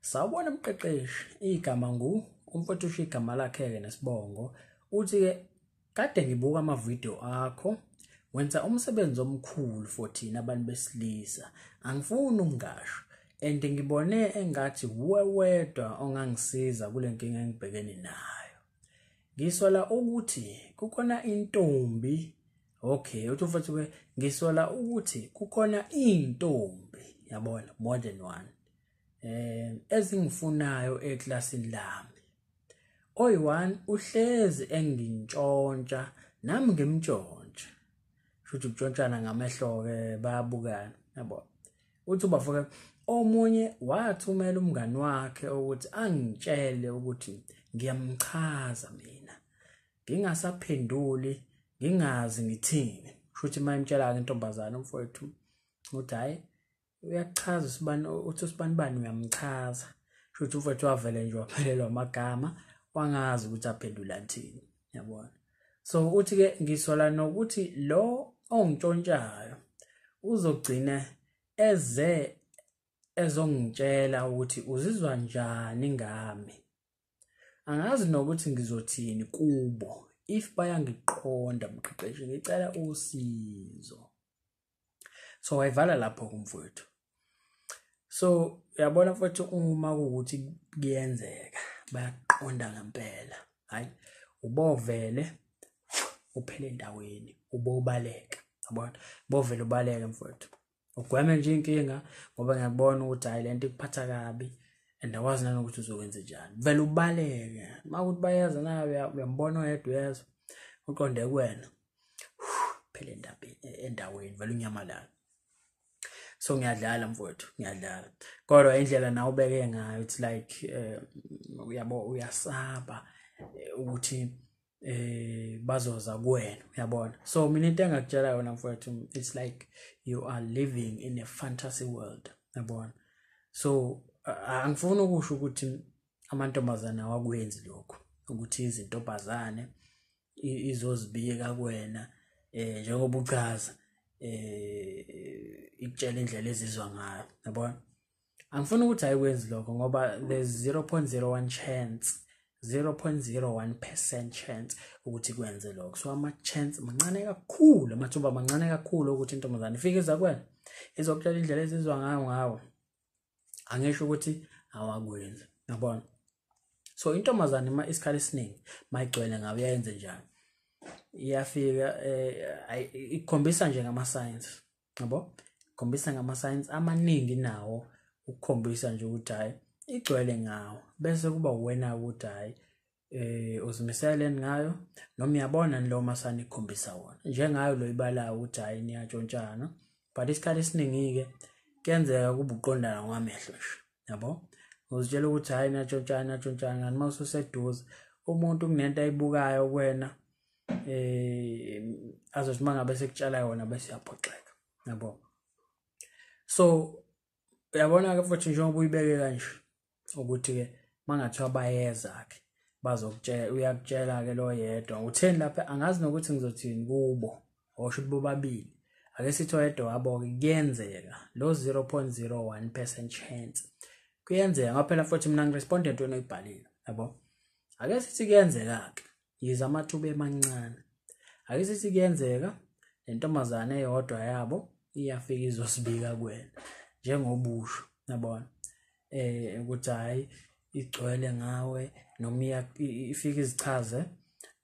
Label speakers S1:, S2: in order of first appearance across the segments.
S1: Sawubona mqeqeshi, igama ngu umfowethu usho igama lakhe-ke nesibongo. Uthi-ke kade ngibuka amavidiyo akho wenza umsebenzi omkhulu for thina abantu besilisa. Angifuni ukungasho and ngibone engathi wuwe wedwa ongangisiza kule nkinga engibhekene nayo. Ngisola ukuthi kukhona intombi okay uthi mfowethu-ke ngisola ukuthi kukhona iy'ntombi yabona more than one eh ezingifunayo eklasini lami oyi-1 uhlezi engintshontsha nami ngimtshontshe shuthi kutshontshana ngamehlo-ke bayabukana yabo uthi ubafo-ke omunye wathumela umngani wakhe ukuthi angitshele ukuthi ngiyamchaza mina ngingasaphenduli ngingazi ngithini shuthi mayimtshela-ke intombazane umfowethu ukuthi hhayi uyachaza usibani uthi usibani bani uyamchaza shothi umfethu wavele nje waphelelwa amagama wangazi ukuthi aphendula thini yabona so uthi ke ngisola nokuthi lo ongitshontshayo uzogcina eze ezongitshela ukuthi uzizwa njani ngami angazi nokuthi ngizothini kubo if bayangiqonda mqeqeshi ngicela usizo so wayivala lapho kumfowethu so uyabona mfowethu uma kuwukuthi kuyenzeka bayaqonda ngempela hayi ubovele uphele endaweni ubobaleka yabona bovele ubaleke mfowethu ugweme nje inkinga ngoba ngiyakubona ukuthi hayi lento ikuphatha kabi and awazi nanokuthi uzokwenza njani vele ubaleke uma ukuthi bayeza nayo uyambona oyedwa uyezwa uqonde kuwena phela endaweni vele unyamalala so ngiyadlala mfowethu ngiyadlala kodwa indlela nawe ubeke ngayo it's like eh, uyabo uyasaba eh, ukuthi eh bazoza kuwena uyabona so mina into engakutshela yona mfowethu it's like you are living in a fantasy world uyabona so angifuni ukusho ukuthi amantombazana awakwenzi lokho ukuthi izintombazane izozibika kuwena eh njengoba uchaza eh ikutshela indlela ezizwa ngayo yabona angifuni ukuthi ayikwenzi lokho ngoba the 0.01 chance 0.01% chance ukuthi kwenze lokho so ama chance mancane kakhulu amathuba mancane kakhulu ukuthi intombazane ifike iza kwena izokutshela indlela ezizwa ngayo ngawo angisho ukuthi awakwenzi yabona so intombazane uma isikhathi esiningi mayigcwele ngabe yayenze njani iyafika eh, ikhombisa nje ngama-science yabo ikhombisa ngama-science amaningi nawo ukukhombisa nje ukuthi hhayi igcwele ngawo bese kuba uwena-ke ukuthi hhayi eh uzimisele ngayo noma uyabona lo masani ikhombisa wona njengayo lo ibalayo ukuthi hayi niyatshontshana but isikhathi esiningi ke kuyenzeka kubuqondana kwamehlo nje yabo uzitshela ukuthi hayi niyatshontshana niyatshontshana ngani uma ususeduze umuntu kunento ayibukayo kuwena eh azothi mangabe sekutshala yona bese yaphoxeka yabo so uyabona ke futhi njengoba uyibeke kanje ukuthi ke mangathiwa bayeza ke bazokutshela uyakutshela ke lo yedwa utheni lapha angazi nokuthi ngizothini kubo osho ukuthi bobabili ake sithi oyedwa wabo ke kuyenzeka lo 0.01% chance kuyenzeka ngoba phela futhi mina ngiresponde entweni oyibhalile yabo ake sithi kuyenzeka ke yize amathuba emancane ake sithi kuyenzeka nentombazane eyodwa yabo iyafika izosibika kuwena njengobusho yabona eh ukuthi hayi igcwele ngawe noma ifika izichaze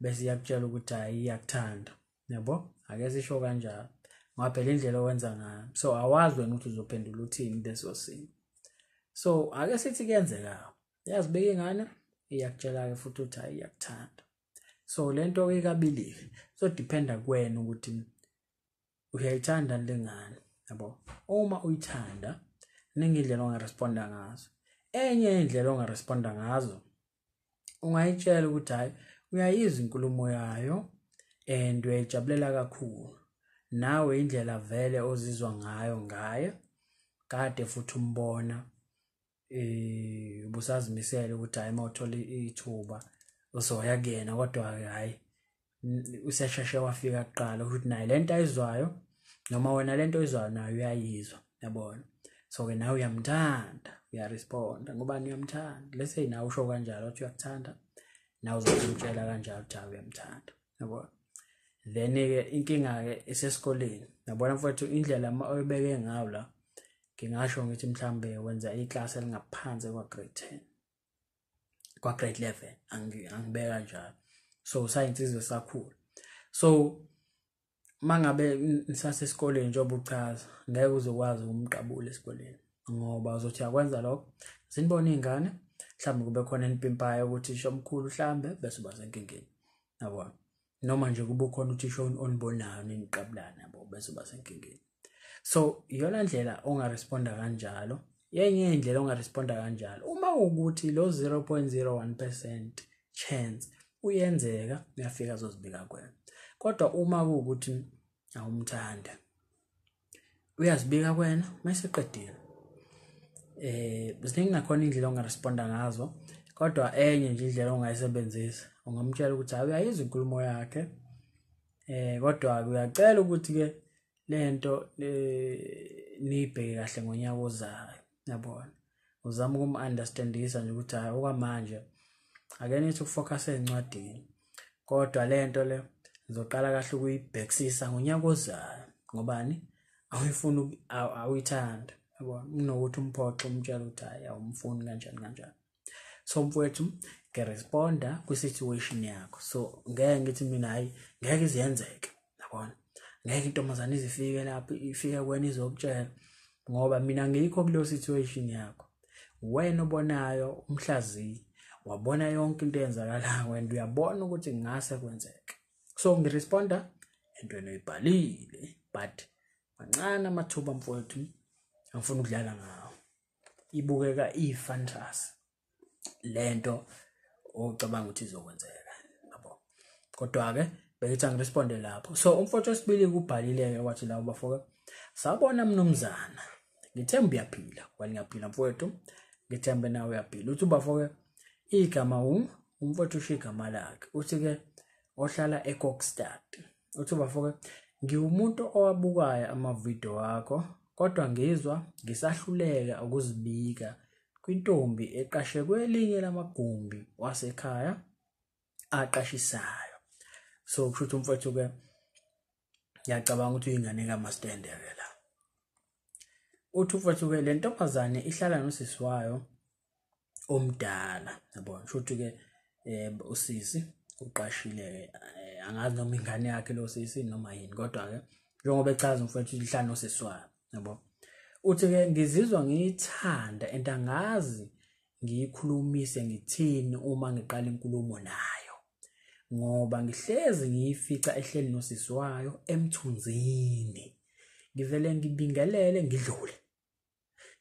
S1: bese iyakutshela ukuthi hayi iyakuthanda yabo ake sisho kanjalo ngoba phela indlela owenza ngayo so awazi wena ukuthi uzophendula uthini leso simo so ake sithi kuyenzeka yazi beke ngane iyakutshela-ke futhi ukuthi hayi iyakuthanda so le nto ikabilile izodependa kwena ukuthi uyayithanda le ngane yabo uma uyithanda ningi indlela ongaresponda ngazo enye indlela ongaresponda ngazo ungayitshela ukuthi hhayi uyayizwa inkulumo yayo and uyayijabulela kakhulu nawe indlela vele ozizwa ngayo ngaye kade futhi umbona eh ubusazimisele ukuthi hayi mawuthola ithuba uzoya kuyena kodwa ke hayi usesheshe wafika kuqala ukuthi naye lento ayizwayo noma wena lento oyizwayo nayo uyayizwa yabona so ke nawe uyamthanda uyaresponda ngoba uyamthanda lese nawe usho kanjalo ukuthi uyakuthanda nawe uzomtshela kanjalo ukuthi uyamthanda yabo then ke inkinga ke isesikoleni yabona mfowethu indlela uma oyibeke ngayo la ngingasho ngithi mhlambe wenza iclass elingaphansi kwa grade 10 kwa grade 11 angibeka njalo so science izwe sakhula so mangabe nisasesikoleni njengoba uchaza ngeke uzokwazi ukumqabula esikoleni ngoba uzothi yakwenza lokho zinibona iy'ngane mhlawumbe kube khona enipimpayo ukuthi isho omkhulu hlambe bese uba senkingeni yabona noma nje kube khona uthisha onibonayo niniqabulana yabo bese uba senkingeni so iyona ndlela ongaresponda kanjalo yenye indlela ongaresponda kanjalo uma ukuthi lo 0.01 percent chance uyenzeka uyafika azozibika kwena kodwa uma kuwukuthi awumthanda uyazibika kwena mayeseqedile eh ziningi nakhona indlela ongaresponda ngazo kodwa enye nje indlela ongayisebenzisa ungamtshela ukuthi hayi uyayizwa inkulumo yakhe eh kodwa uyacela ukuthi ke lento eh, niyibheke kahle ngonyaka ozayo yabona uzama ukum-understandisa nje ukuthi hhayi okwamanje ake nithi ukufocus ey'ncwadini kodwa le nto le ngizoqala kahle ukuyibhekisisa ngonyaka ozayo ngobani awuyifuni awuyithanda yabona kunokuthi umphoxe umtshela ukuthi hhayi awumfuni kanjani kanjani so mfowethu ngiresponda kwi-situation yakho so ngeke ngithi mina hhayi ngeke iziyenzeke yabona ngeke intombazane izifike lapho ifike kwena izokutshela ngoba mina ngikho kuleyo situation yakho wena obonayo umhlaziyi wabona yonke into eyenzakalayo wena uyabona ukuthi ngase kwenzeke so ngiresponda entweni oyibhalile but mancane amathuba mfowethu angifuni ukudlala ngawo ibukeka ifantasy lento ocabanga ukuthi izokwenzeka yabo kodwa ke beyithi angiresponde lapho so umfowethu wesibili kubhalile ke wathi lawo bafoka sabona mnumzana ngithemba uyaphila wena ngiyaphila mfowethu ngithembe nawe uyaphila uthi bafoke igama um umfowethu usho igama lakhe uthi ke ohlala eCockstad uthi bafoke ngiwumuntu owabukayo amavidiyo wakho kodwa ngizwa ngisahluleka ukuzibika kwintombi eqashe kwelinye lamagumbi wasekhaya aqashisayo so kusho ukuthi umfowethu ke ngiyacabanga ukuthi uyingane kamastendeke la uthi umfowethu ke le ntombazane ihlala nosisi wayo omdala yabo kusho ukuthi ke eh, usisi uqashile eh, angazi noma ingane yakhe lo sisi noma yini kodwa ke njengoba echaza umfowethu ihlala nosisi wayo yabo uthi ke ngizizwa ngiyithanda and angazi ngiyikhulumise ngithini uma ngiqala inkulumo nayo ngoba ngihlezi ngiyifica ehleli nosisi wayo emthunzini ngivele ngibingelele ngidlule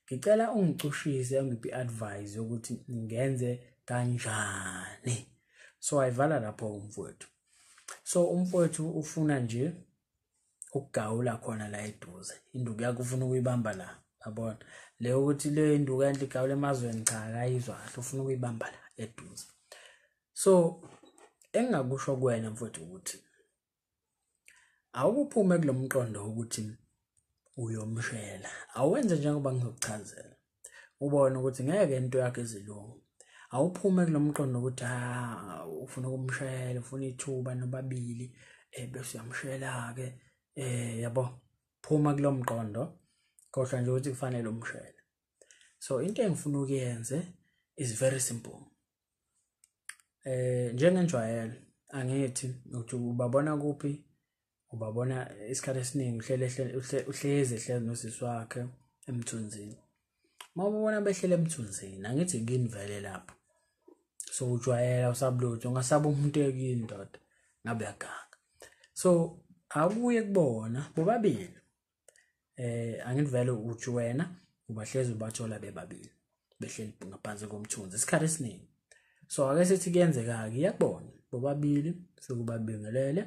S1: ngicela ungicushise ungiphi advice yokuthi ngenze kanjani so ayivala lapho umfowethu so umfowethu ufuna nje ukugawula khona la eduze induku yakho ufuna ukuyibamba la yabona le ukuthi le induku enhle igawula emazweni cha akayizwa kahle ufuna ukuyibamba la eduze so engingakusho kuwena mfowethu ukuthi awukuphume kulomqondo ukuthi uyomshela awenze njengoba ngizokuchazela ubone ukuthi ngeke into yakhe izilungu awuphume kulomqondo ukuthi ha ah, ufuna ukumshayela ufuna ithuba nobabili eh bese uyamshayela ke eh yabo phuma kulomqondo kodwa nje ukuthi kufanele umshayele so into engifuna ukuyenze is very simple eh njengenjwayelo angithi ukuthi ubabona kuphi ubabona isikhathi esiningi uhlele uhlezi ehlezi nosisi wakhe emthunzini uma ubona behlele emthunzini angithi kini vele lapho so ujwayela usabulutho ungasaba umuntu ekini ndoda ngabe yaganga so akuye kubona bobabili eh angithi vele uthi wena ubahlezi ubathola bebabili behleli ngaphansi komthunzi isikhathi esiningi so ake sithi kuyenzeka-ke iyakubona bobabili sekubabingelele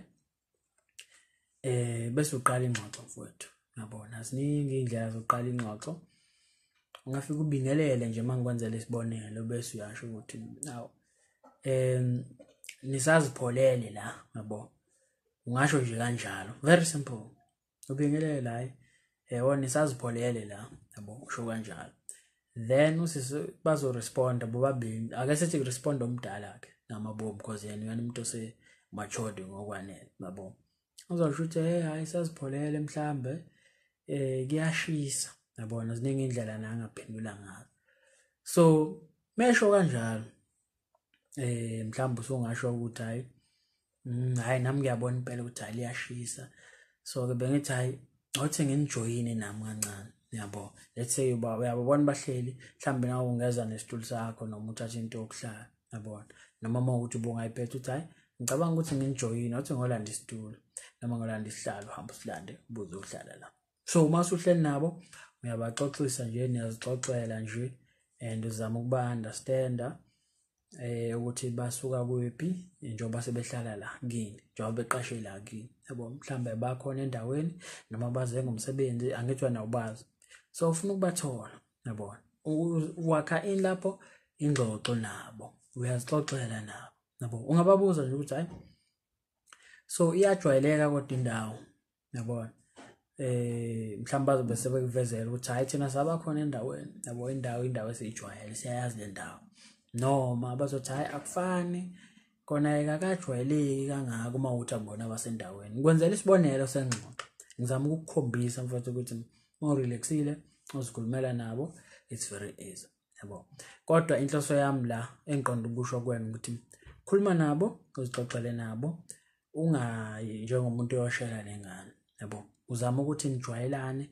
S1: eh bese uqala ingxoxo mfowethu yabona ziningi indlela zokuqala ingxoxo ungafika ubingelele nje mangikwenzela isibonelo bese uyasho ukuthi awu em nisazipholele la yabo ungasho nje kanjalo very simple ubingelele la yebo nisazipholele la yabo usho kanjalo then usisi bazoresponda bobabili ake sithi kurespond omdala ke namabomu because yena uyena umuntu ose matured ngokwanele yabo uzosho ukuthi hey hayi sazipholele mhlambe eh kuyashisa yabona ziningi indlela nangaphendula ngazo so mesho kanjalo eh mhlawumbe usungasho ukuthi hayi mm, hayi nami ngiyabona impela ukuthi hayi liyashisa so ke bengithi hayi ngothe nginijoyine nami kancane yabo let's say uba uyabona bahleli mhlawumbe nawe ungeza nesitulo sakho noma uthathe into yokuhlala yabona noma uma ukuthi ubungayiphetha ukuthi hayi ngicabanga ukuthi nginijoyine othi ngolanda isitulo noma ngolanda isihlalo hamba usilande buze uhlala la so uma usuhleli nabo uyabaxoxisa nje niyazixoxela nje and uzama ukuba understanda eh ukuthi basuka kuphi njengoba sebehlala la kini njengoba beqashe la kini yabo mhlambe bakhona endaweni noma baze ngomsebenzi angithiwa nawubazi so ufuna ukubathola yabona wakha in lapho ingxoxo nabo uyazixoxela nabo yabo ungababuza nje ukuthi hayi so iyajwayeleka kodwa indawo yabona eh mhlawumbe bazobe sebekuvezela ukuthi hayi thina sabakhona endaweni yabo indawo indawo esiyijwayele siyayazi le ndawo noma bazothi hayi akufani kona ekakajwayeleki kangako uma uthi akubona abasendaweni ngikwenzela isibonelo sengxoxo ngizama ukukukhombisa mfowethu ukuthi uma urelaxile uzikhulumela nabo it's very easy yabo kodwa inhloso yami la engiqonda ukusho kwena ukuthi khuluma nabo uzixoxele nabo ungayi njengomuntu oyoshela nengane yabo uzama ukuthi nijwayelane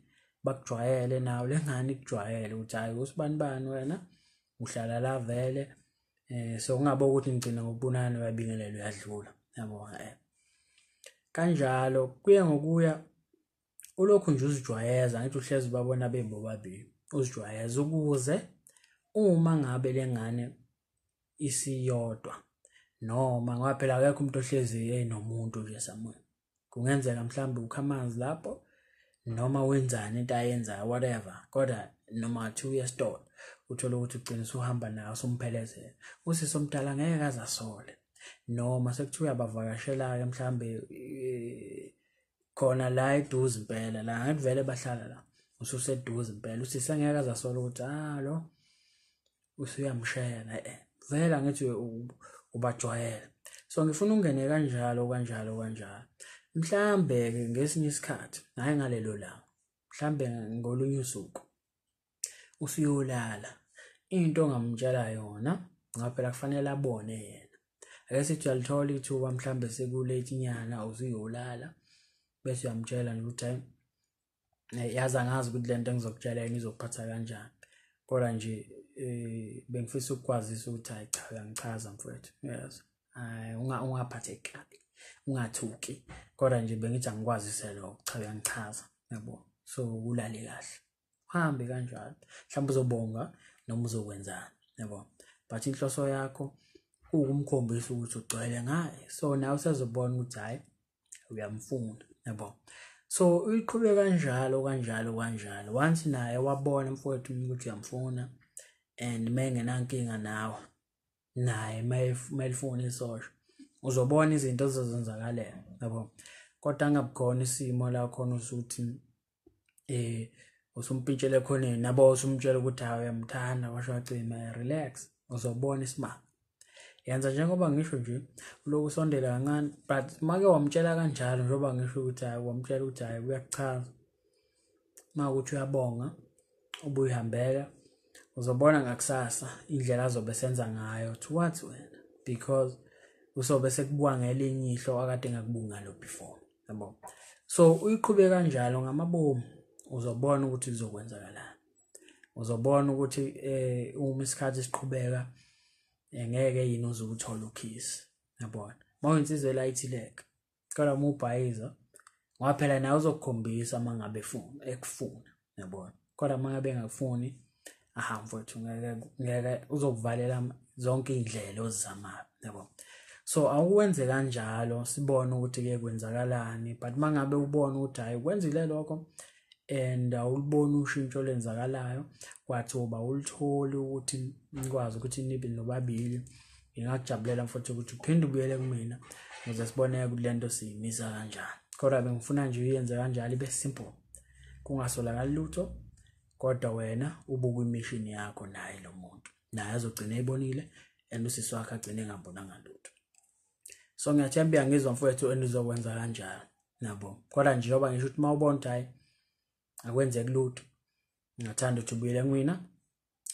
S1: bakujwayele nawo lengane ikujwayele ukuthi hayi usibani bani wena uhlala la vele eh so ungabe ukuthi ngigcina ngokubonana uyabingelela uyadlula yabo eh kanjalo kuye ngokuya ulokhu nje uzijwayeza ngithi uhlezi babona bebobabili uzijwayeza ukuze uma ngabe lengane isiyodwa noma ngoba phela akekho umuntu ohlezi enomuntu nje somewhere kungenzeka mhlawumbe ukha amanzi lapho noma wenzani into ayenzayo whatever kodwa noma athi uye esitolo uthole ukuthi ugcina usuhamba nayo usumphelezela usisi omdala ngeke kaze asole noma sekuthiwa uyabavakashela-ke mhlawumbe eh, khona la eduze impela la ngathi vele bahlala la ususeduze impela usisi angeke azasola ukuthi ah lo usuyamshayela eh vele angithi ubajwayela so ngifuna ungene kanjalo kanjalo kanjalo mhlambe ke ngesinye isikhathi hayi ngalelo langa mhlambe ngolunye usuku usuyolala into ongamtshela yona ngoba phela kufanele abone yena ake sithi uyalithola ithuba mhlawumbe sekulate nyana usuyolala bese uyamtshela nje ukuthi hayi eh, yazi angazi ukuthi le nto engizokutshela yini izokuphatha kanjani kodwa nje um bengifisa ukukwazisa ukuthi hayi cha uyangichaza mfowethu yes hayi ungaphatheki kabi ungathuki kodwa nje bengithi angikwazise lokho cha uyangichaza yabo so ulale kahle uhambe kanjalo mhlawumbe uzobonga noma uzokwenzani yabo but inhloso yakho ukumkhombisa ukuthi ugcwele ngaye so nawe usezobona ukuthi hhayi uyamfuna yabo so uyiqhube kanjalo kanjalo kanjalo once naye wabona mfowethu ukuthi uyamfuna and mengenankinga nawe naye mayelifuna isosha uzobona izinto ezizenzakalela yabo kodwa angabukhona isimo la khona usuthi eh usumpintshele khoneni nabo usumtshela ukuthi hayi uyamthanda washo wacima relax uzobona isimanga yenza njengoba ngisho nje uloku usondela kancane but make wamtshela kanjalo njengoba ngisho ukuthi hayi wamtshela ukuthi hayi kuyakuchaza uma ukuthi uyabonga ubuyihambela uzobona ngakusasa indlela azobe senza ngayo towards wena because usobe sekubuka ngelinye ihlo akade ngakubunga lo before yabo so uyiqhube kanjalo ngamabomu uzobona ukuthi kuzokwenzakalani uzobona ukuthi eh uma isikhathi siqhubeka eh, ngeke yini uzukuthola ukhisi yabona mawensizwe light leg cela uma ubhayiza ngoba phela naye uzokukhombisa uma ngabe efuna ekufuna yabona kodwa uma ngabe engakufuni aha mfowethu ngeke ngeke uzokuvalela zonke iy'ndlela ozizamayo yabo so awukwenze kanjalo sibone ukuthi-ke kwenzakalani but uma ngabe ubona ukuthi hhayi kwenzile lokho and awuliboni ushintsho olenzakalayo kwathiwa awulitholi ukuthi nikwazi ukuthi nibe nobabili ngingakujabulela futhi ukuthi uphinde ubuyele kumina ngize sibone ukuthi lento siyimisa kanjani kodwa bengifuna nje uyenze kanjalo ibe simple kungasolakali lutho kodwa wena ubuka imishini yakho naye lo muntu naye azogcina ebonile and usisi wakhe agcine engambonanga lutho so ngiyathemba uyangizwa mfowethu enizokwenza kanjalo nabo kodwa nje njengoba ngisho ukuthi uma ubona ukuthi hhayi akwenzeki lutho ngingathanda ukuthi ubuyele kumina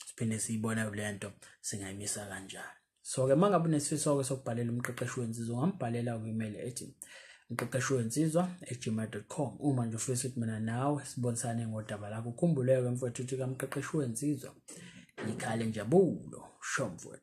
S1: siphinde siyibone le nto singayimisa kanjani so-ke uma ngabe unesifiso-ke sokubhalela umqeqeshi wensizwa ungambhalela kwi-email ethi umqeqeshi wensizwa egmail com uma nje ufisa ukuthi mina nawe sibonisane ngodaba lakho ukhumbuleke mfowethu ukuthi kamqeqeshi wensizwa yikhale njabulo sho mfowethu